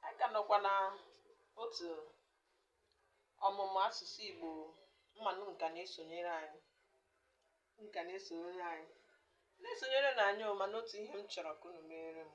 anyị ka nọkwa na otu ọmụmụ asụsụ Igbo mmanụ nka na-esonyere anyị nka na-esonyere anyị na-esonyere na anyị o mana otu ihe m chọrọ ka unu meere m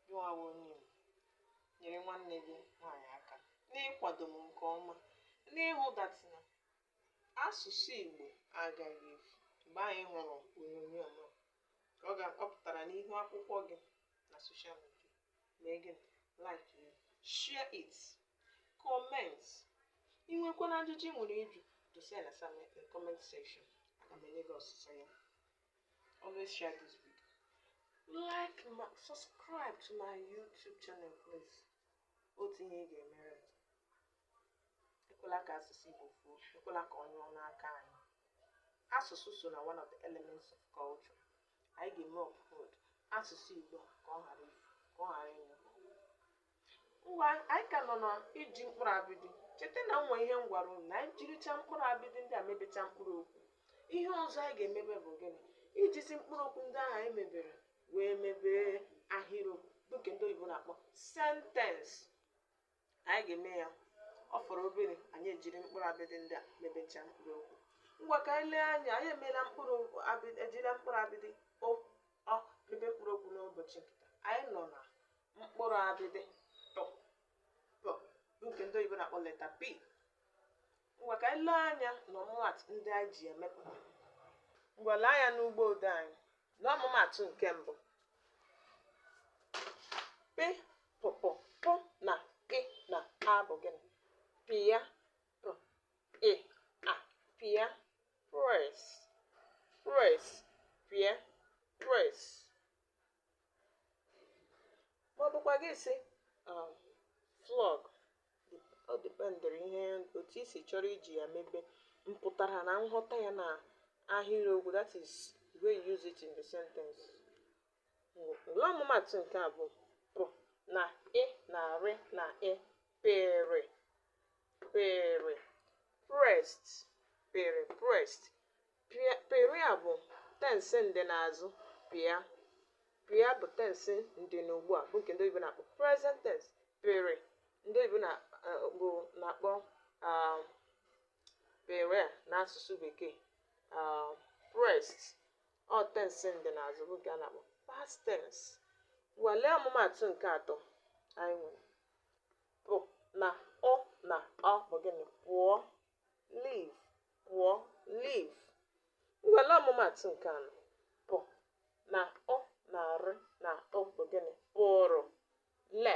gịnwa bụ onye Igbo nyere nwanne gị nwaanyị aka n'ịkwado m nke ọma n'ịhụ that na asụsụ Igbo agaghị efu mgbe anyị hụrụ onyonyo m a ọ pụtara n'ihu akwụkwọ gị na social media mee gịnị like ya share it comment ị nwekwana ajụjụ ị nwere ịjụ dosa ya na comment section aga m enye gị ọsịsa ya always share this video like ma subscribe to my youtube channel please otu ihe ị ga-emere m ekwela ka asụsụ Igbo fuo ekwela ka ọ nyụọ n'aka anyị asụsụ so na one of the elements of culture anyị ga-eme uphold asụsụ Igbo ka ọ ghara ifu ka ọ ghara ịnyụ ngwa anyị ka nọ na iji mkpụrụ abịdị cheta na o nwe ihe m gwara unu na anyị jiricha mkpụrụ abịdị ndị a mebecha mkpụrụ okwu ihe ọzọ anyị ga-emebe bụ gịnị ijizi mkpụrụ okwu ndị ahụ anyị mebere wee mebee ahịrịokwu bụ nke ndị oyibo na-akpọ sentence anyị ga-eme ya ọ fọrọ obere anyị ejiri mkpụrụ abịdị ndị a mebechaa mkpụrụ okwu ngwa ka anyị lee anya anyị emeela ejila mkpụrụ abịdị o ọ mebe mkpụrụ okwu n'ụbọchị nke taa. anyị nọ na mkpụrụ abịdị pụ bụ nke ndị oyibo na-akpọ letter p Ngwa ka anyị lee anya n'ọmụmatụ ndị anyị ji emepụta. Ngwa lee anya n'ugbo odee anyị n'ọmụmatụ nke mbụ. P, pụ, pụ, pụ na ị na a bụ gịnị? Pịa, pụ, ị, a, pịa, press, press, pịa, press, ma ọ bụkwa gị sị um, flog ọ dịpendịrị ihe otu i si chọrọ iji ya mebe mpụtara na nghọta ya na ahịrịokwu that is the way you use it in the sentence ngwa lee ọmụmatụ nke abụọ pụ na ị na rị na ị pịrị pịrị pressed pịrị pressed Pịrị a bụ tensị ndịnazụ pịa. Pịa bụ tensị ndịnugbu a bụ nke ndị oyibo na-akpọ present tense. Pịrị ndị oyibo na eh, bụ na-akpọ ah, pịrị a n'asụsụ bekee ah, pressed ọ tensị ndịnazụ bụ nke a na-akpọ past tense. Ngwa lee ọmụmaatụ nke atọ anyị nwere pụ na ụ na ọ bụ gịnị pụọ leave pụọ leave ngwa lee ọmụmatụ nke anọ pụ na ọ na-arụ na ọ bụ gịnị pụrụ left